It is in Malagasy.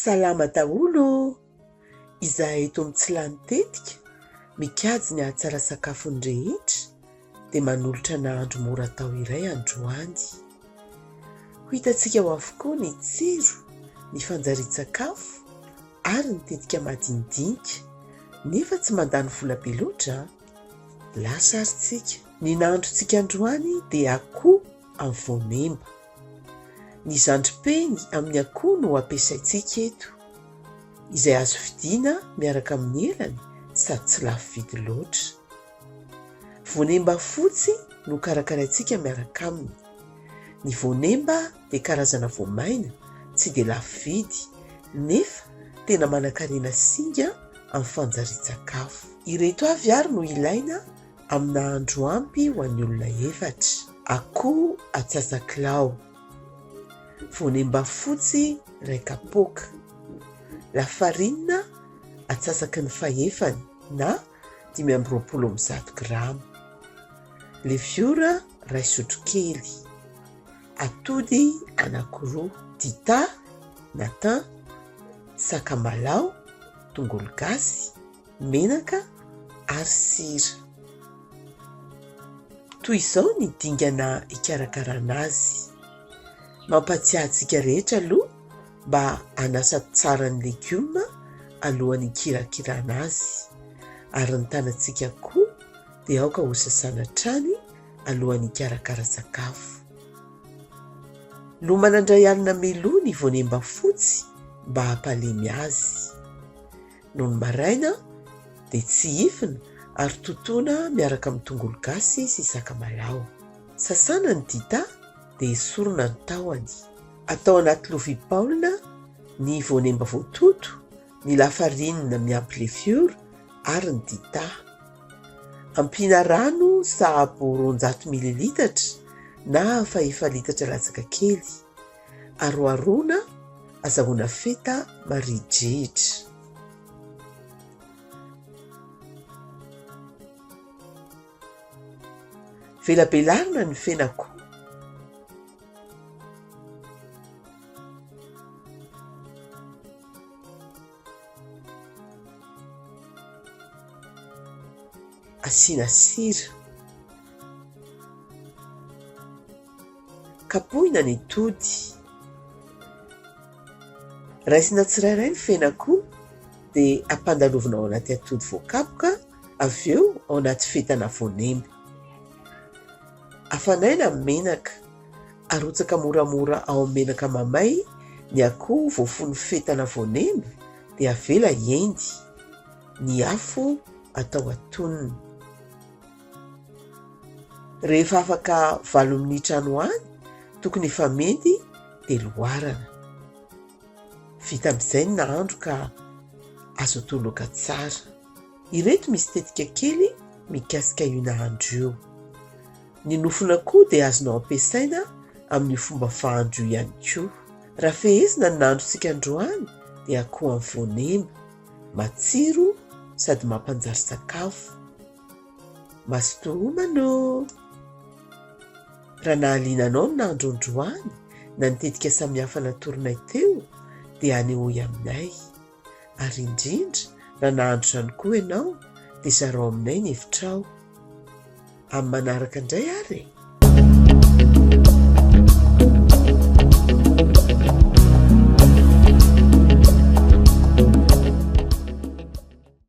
Salama daholo o! Izahay eto amin'ny tsy lany tetika mikajy ny hahatsara sakafon'ny rehetra dia manolotra nahandro mora atao iray androany. Ho hitantsika ao avokoa ny tsiro, ny fanjarian-tsakafo. ary ny tetika madinidinika nefa tsy mandany vola be loatra a! Lasa ary tsika. Ny nahandrontsika androany dia akoho amin'ny voanemba. Ny zandripeny amin'ny akoho no ampiasaintsika eto, izay azo vidiana miaraka amin'ny elany sady tsy lafo vidy loatra. Voanemba fotsy no karakaraintsika miaraka aminy. Ny voanemba dia karazana voamaina tsy dia lafo vidy nefa tena manankarena singa amin'ny fanjarian-tsakafo. Ireto avy ary no ilaina amin'ny nahandro ampy ho an'ny olona efatra. Akoho atsasakilao, voanemba fotsy iray kapoaka, lafarinina atsasaky ny fahefany na dimy amby roapolo amin'ny zato grama, leviora iray sotrokely, Atody anankiroa dita na thym, sakamalao, tongolo gasy, menaka ary sira. Toy izao ny dingana hikarakarana azy. Mampatsiahy antsika rehetra aloha mba hanasa tsara ny legioma alohan'ny hikirakirana azy ary ny tanantsika koa dia aoka hosasana hatrany alohan'ny hikarakara sakafo. Lomana indray alina meloa ny voanemba fotsy mba hampalemy azy. Nony maraina dia tsihifina ary totoina miaraka amin'ny tongolo gasy sy sakamalaho. Sasana ny dita dia esorina ny tahony. Atao anaty lovia baolina ny voanemba voatoto ny lafarinina miampy lefiora ary ny dita. Ampiana rano sahabo roanjato mililitatra na fahefa litatra latsaka kely. Aroharoana, azahoana feta maridrihitra. Velabelarina ny fenako. Asiana sira. Kapohina ny tody. Raisina tsirairay ny fenak'o dia ampandalovina ao anaty atody voakapoka. avy eo ao anaty fetana voanemba. Afanaina ny menaka, arotsaka moramora ao amin'ny menaka mamay ny akoho voafono fetana voanemba dia avela hiendy. Ny afo atao atonony. Rehefa afaka valo minitra any ho any, tokony efa mendy dia loarana. Vita amin'izay ny nahandro ka azo atao laoka tsara. Ireto misy tetika kely mikasika io nahandro io. Ny nofon'akoho dia azonao ampiasaina amin'io fomba fahandro io ihany koa. Raha fehezina ny nahandrontsika androany dia akoho amin'ny voanema. Matsiro sady mampanjary sakafo. Mazotoa homana ô! Raha nahaliana anao ny nahandro androany na ny tetika samihafa natoronay teo dia anehoy aminay. Ary indrindra raha nahandro izany koa ianao dia zarao aminay ny hevitrao. Amin'ny manaraka indray ary e!